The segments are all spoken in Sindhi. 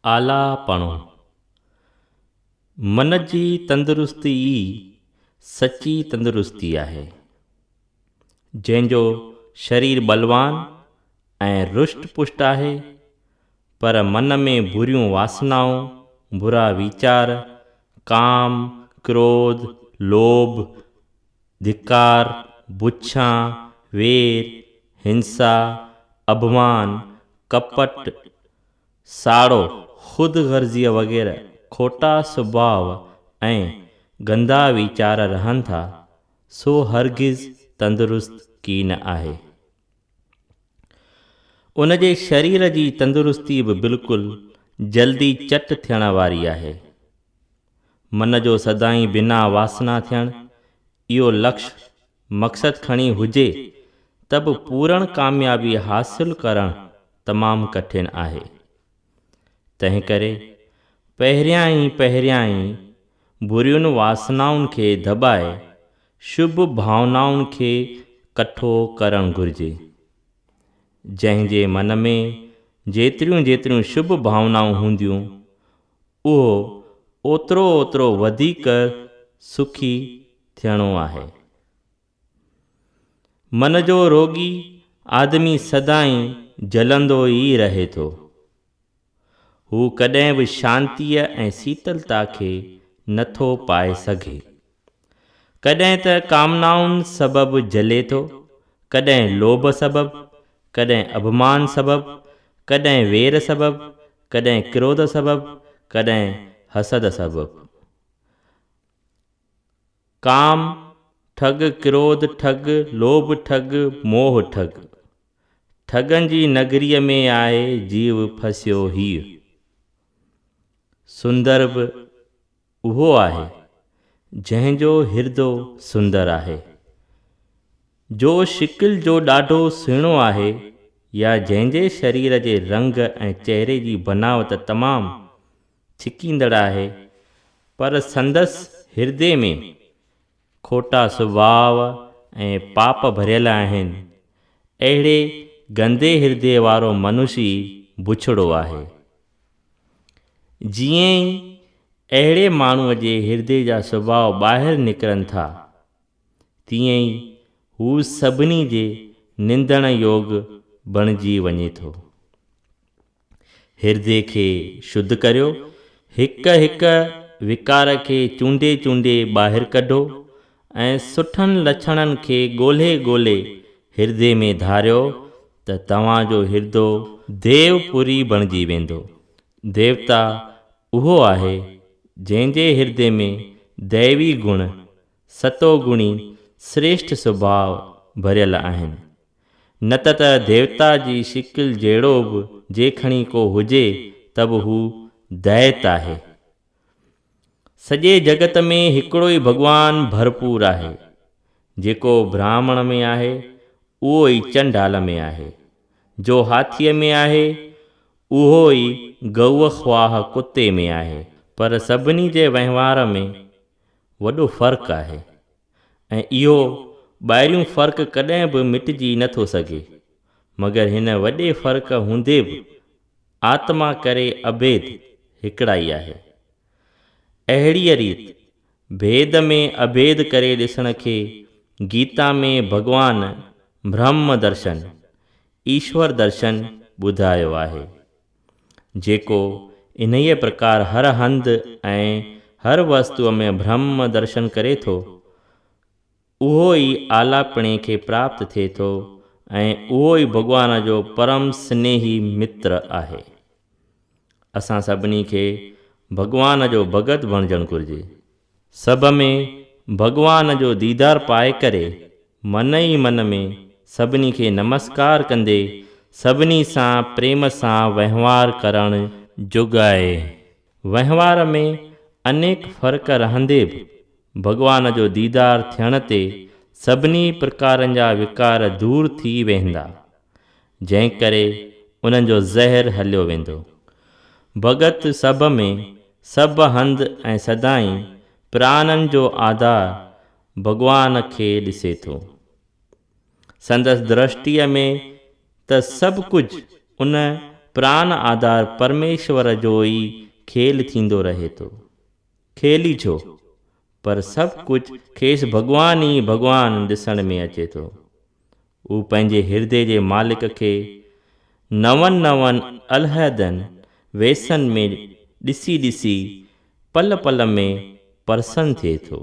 آلاپڻو، من جي تندرستي ئي سچي تندرستي آهي، جنهن جو شرير بلوان ۽ رشٽ پشٽ آهي، پر من ۾ بريون واسنائون، برا ويچار، ڪام، ڪروڌ، لوڀ، ڌڪار، بڇان، وير، هنسا، اڀمان، ڪپٽ، ساڙو، خود غرضيء وغيره کوٽا سڀاء ۽ گندا ويچار رهن ٿا، سو هرگز تندرست ڪي نه آهي. ان جي شرير جي تندرستي به بلڪل جلدي چٽ ٿيڻ واري آهي. من جو سدائين بنا واسنا ٿيڻ، اهو لڪش، مقصد، کڻي هجي ته به پورڻ ڪاميابي حاصل ڪرڻ تمام ڪٺن آهي. تنهنڪري پهريان ئي پهريان ئي برين واسنائن کي دٻائي شڀ ڀاونائن کي ڪٺو ڪرڻ گهرجي. جنهن جي من ۾ جيتريون جيتريون شڀ ڀاونائون هونديون، اهو اوترو اوترو وڌيڪ سکي ٿيڻو آهي. من جو روڳي آدمي سدائين جلندو ئي رهي ٿو. هو ڪڏهن به شانتيء ۽ سيتلتا کي نٿو پائي سگهي. ڪڏهن ته ڪامنائن سبب جلي ٿو، ڪڏهن لوڀ سبب، ڪڏهن اڀمان سبب، ڪڏهن وير سبب، ڪڏهن ڪروڌ سبب، ڪڏهن حسد سبب. ڪام ٺڳ، ڪروڌ ٺڳ، لوڀ ٺڳ، موهه ٺڳ. ٺڳن جي نگريء ۾ آهي جيو ڦسيو هيء. سندرڀ. اهو آهي، جنهن جو هردو سندر آهي. جو شڪل جو ڏاڍو سهڻو آهي يا جنهن جي شرير جي رنگ ۽ چهري جي بناوت تمام ڇڪيندڙ آهي، پر سندس هردي ۾ کوٽا سڀاء ۽ پاپ ڀريل آهن. اهڙي گندي هردي وارو منشي بڇڙو آهي. جيئن ئي اهڙي ماڻهوء جي هردي جا سڀاء ٻاهر نڪرن ٿا، تيئن ئي هو سڀني جي نندڻ يوگ بڻجي وڃي ٿو. هردي کي شڌ ڪريو، هڪ هڪ وڪار کي چونڊي چونڊي ٻاهر ڪڍو ۽ سٺن لڇڻن کي ڳولهي ڳولهي هردي ۾ ڌاريو ته توهان جو هردو ديو پوري بڻجي ويندو. ديوتا اهو آهي جنهن جي هردي ۾ ديوي گڻ ستو گڻي سريشٺ سڀاء ڀريل آهن. نه ته ته ديوتا جي شڪل جهڙو به جيکڻي ڪو هجي ته به هو دئيت آهي. سڄي جڳت ۾ هڪڙو ئي ڀڳوان ڀرپور آهي. جيڪو براهمڻ ۾ آهي اهو ئي چنڊال ۾ آهي. جو هاٿيء ۾ آهي اهو ئي گئوء خواهه ڪتي ۾ آهي. پر سڀني جي وهنوار ۾. وڏو فرق آهي ۽ اهو ٻاهريون فرق ڪڏهن به مٽجي نه ٿو سگهي مگر هن وڏي فرق هوندي به آتما ڪري اڀيد هڪڙائي آهي. اهڙيء ريت ڀيد ۾ اڀيد ڪري ڏسڻ کي گيتا ۾ ڀڳوان برهمه درشن، ايشور درشن، ٻڌايو آهي. جيڪو انهيء پرڪار هر هنڌ ۽ هر وستوء ۾ برهم درشن ڪري ٿو، اهو ئي آلاپڻي کي پراپت ٿئي ٿو ۽ اهو ئي ڀڳوان جو پرم سنيهي متر آهي. اسان سڀني کي ڀڳوان جو ڀڳت بڻجڻ گهرجي. سڀ ۾ ڀڳوان جو ديدار پائي ڪري من ئي من ۾ سڀني کي نمسڪار ڪندي سڀني سان پريم سان وهنوار ڪرڻ جوڳ آهي. وهنوار ۾ انيڪ فرق رهندي به ڀڳوان جو ديدار ٿيڻ تي سڀني پرڪارن جا وڪار دور ٿي ويهندا. جنهن ڪري انهن جو زهر هليو ويندو. ڀڳت سڀ ۾ سڀ هنڌ ۽ سدائين پرانن جو آڌار ڀڳوان کي ڏسي ٿو. سندس درشٽيء ۾ ته سڀ ڪجهه ان پران آڌار پرميشور جو ئي کيل ٿيندو رهي ٿو. کيل ئي ڇو، پر سڀ ڪجهه کيس ڀڳوان ئي ڀڳوان ڏسڻ ۾ اچي ٿو. هو پنهنجي هردي جي مالڪ کي نون نون علحدن ويسن ۾ ڏسي ڏسي پل پل ۾ پرسن ٿئي ٿو،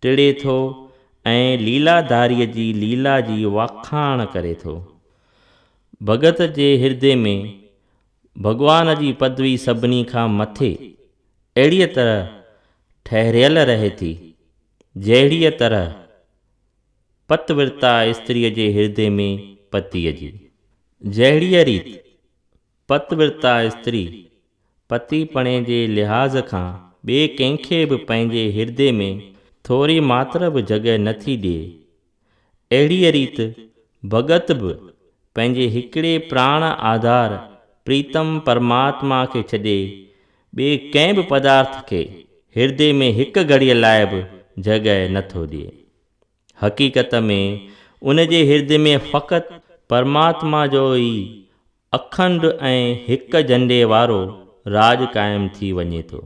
ٽڙي ٿو ۽ ليلاداريء جي ليلا جي واکاڻ ڪري ٿو. ڀڳت جي هردي ۾ ڀڳوان جي پدوي سڀني کان مٿي اهڙيء طرح ٺهريل رهي ٿي، جهڙيء طرح پت ورتا استريء جي هردي ۾ پتيء جي. جهڙيء ريت پت ورتا استري پتي پڻي جي لحاظ کان ٻئي ڪنهن کي به پنهنجي هردي ۾ ٿوري ماتر به جڳهه نه ٿي ڏئي، اهڙيء ريت ڀڳت به پنهنجي هڪڙي پراڻ آڌار پريتم پرماتما کي ڇڏي ٻئي ڪنهن به پدارٿ کي هردي ۾ هڪ گهڙيء لاء به جڳهه نه ٿو ڏئي. حقيقت ۾ ان جي هرد ۾ فقط پرماتما جو ئي اکنڊ ۽ هڪ جهنڊي وارو راڄ قائم ٿي وڃي ٿو.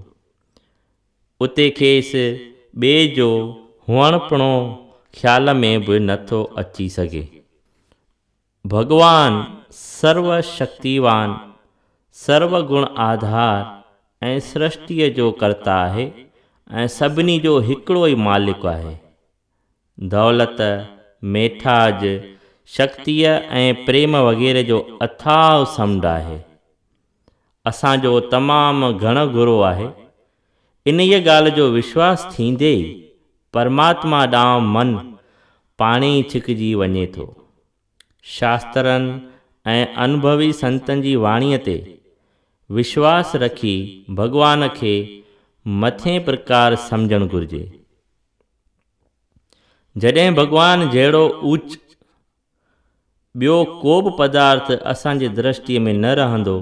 اتي کيس ٻئي جو هئڻپڻو خيال ۾ به نه ٿو اچي سگهي. ڀڳوان سرو شڪتيوان، سرو گڻ آڌار ۽ سرشٽيء جو ڪرتا آهي ۽ سڀني جو هڪڙو ئي مالڪ آهي. دولت، ميٺاج، شڪتيء ۽ پريم وغيره جو اٿاهه سمنڊ آهي. اسان جو تمام گهڻ گهرو آهي انهيء ڳالهه جو وشواس ٿيندي ئي پرماتما ڏانهن من پاڻهي ئي ڇڪجي وڃي ٿو. شاسترن ۽ انڀوي سنتن جي واڻيء تي وشواس رکي ڀڳوان کي مٿين پرڪار سمجهڻ گهرجي. جڏهن ڀڳوان جهڙو اوچ ٻيو ڪو به پدارٿ اسان جي درشٽيء ۾ نه رهندو،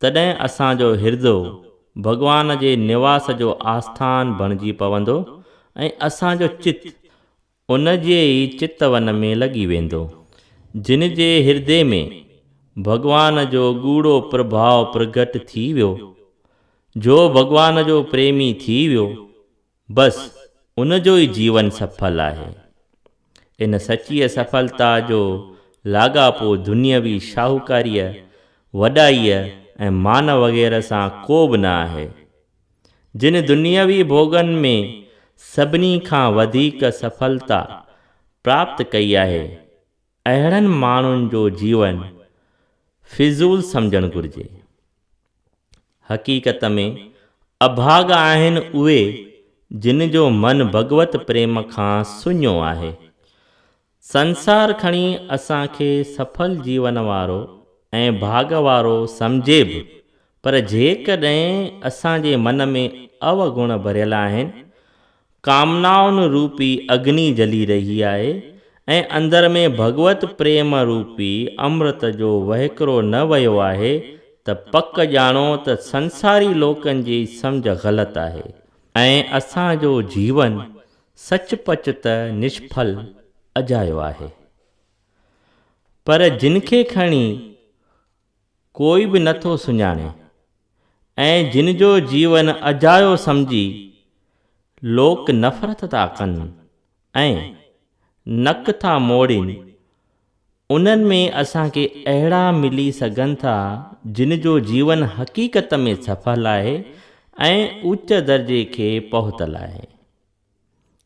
تڏهن اسان جو هردو ڀڳوان جي نواس جو آسٿان بڻجي پوندو ۽ اسان جو چت ان جي ئي چتون ۾ لڳي ويندو، جن جي هردي ۾ ڀڳوان جو ڳوڙهو پرڀاء پرگهٽ ٿي ويو، جو ڀڳوان جو پريمي ٿي ويو، بس ان جو ئي جيون سڦل آهي. ان سچيء سڦلتا جو لاڳاپو دنيوي شاهوڪاريء، وڏائيء ۽ مان وغيره سان ڪو به نه آهي. جن دنيوي ڀوڳن ۾ سڀني کان وڌيڪ سڦلتا پراپت ڪئي آهي، اهڙن ماڻهن جو جيون فضول سمجهڻ گهرجي. حقيقت ۾ اڀاڳا آهن اهي جن جو من ڀڳوت پريم کان سڃو آهي. سنسار کڻي اسان کي سڦل جيون وارو ۽ ڀاڳ وارو سمجهي به پر جيڪڏهن اسان جي من ۾ اوگڻ ڀريل آهن، ڪامنائن روپي اگني جلي رهي آهي ۽ اندر ۾ ڀڳوت پريم روپي امرت جو وهڪرو نه ويو آهي ته پڪ ڄاڻو ته سنساري لوڪن جي سمجهه غلط آهي ۽ اسان جو جيون سچ پچ ته نشڦل اجايو آهي. پر جن کي کڻي. ڪوئي به نه ٿو سڃاڻي ۽ جن جو جيون اجايو سمجهي لوڪ نفرت ٿا ڪن ۽ نڪ ٿا موڙين، انهن ۾ اسان کي اهڙا ملي سگهن ٿا جن جو جيون حقيقت ۾ سڦل آهي ۽ اوچ درجي کي پهتل آهي.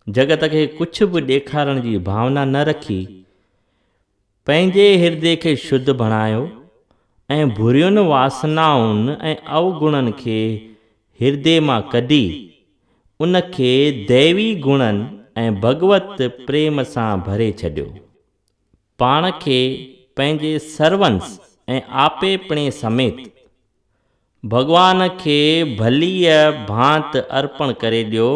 جڳت کي ڪجهه به ڏيکارڻ جي ڀاونا نه رکي، پنهنجي هردي کي شڌ بڻايو ۽ برين واسنائن ۽ اوگڻن کي هردي مان ڪڍي، ان کي ديوي گڻن ۽ ڀڳوت پريم سان ڀري ڇڏيو. پاڻ کي پنهنجي سرونس ۽ آپيپڻي سميت، ڀڳوان کي ڀليء ڀانت ارپڻ ڪري ڏيو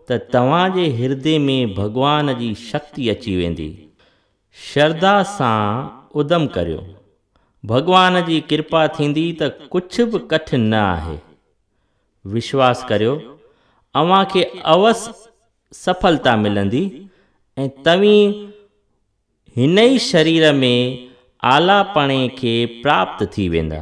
ته توهان جي هردي ۾ ڀڳوان جي شڪتي اچي ويندي. شرڌا سان ادم ڪريو. ڀڳوان جي ڪرپا ٿيندي ته ڪڇ به ڪٺن نه آهي. وشواس ڪريو اوهان کي اوس سڦلتا ملندي ۽ توهين هن ئي شرير ۾ اعليٰ پڻي کي پراپت ٿي ويندا.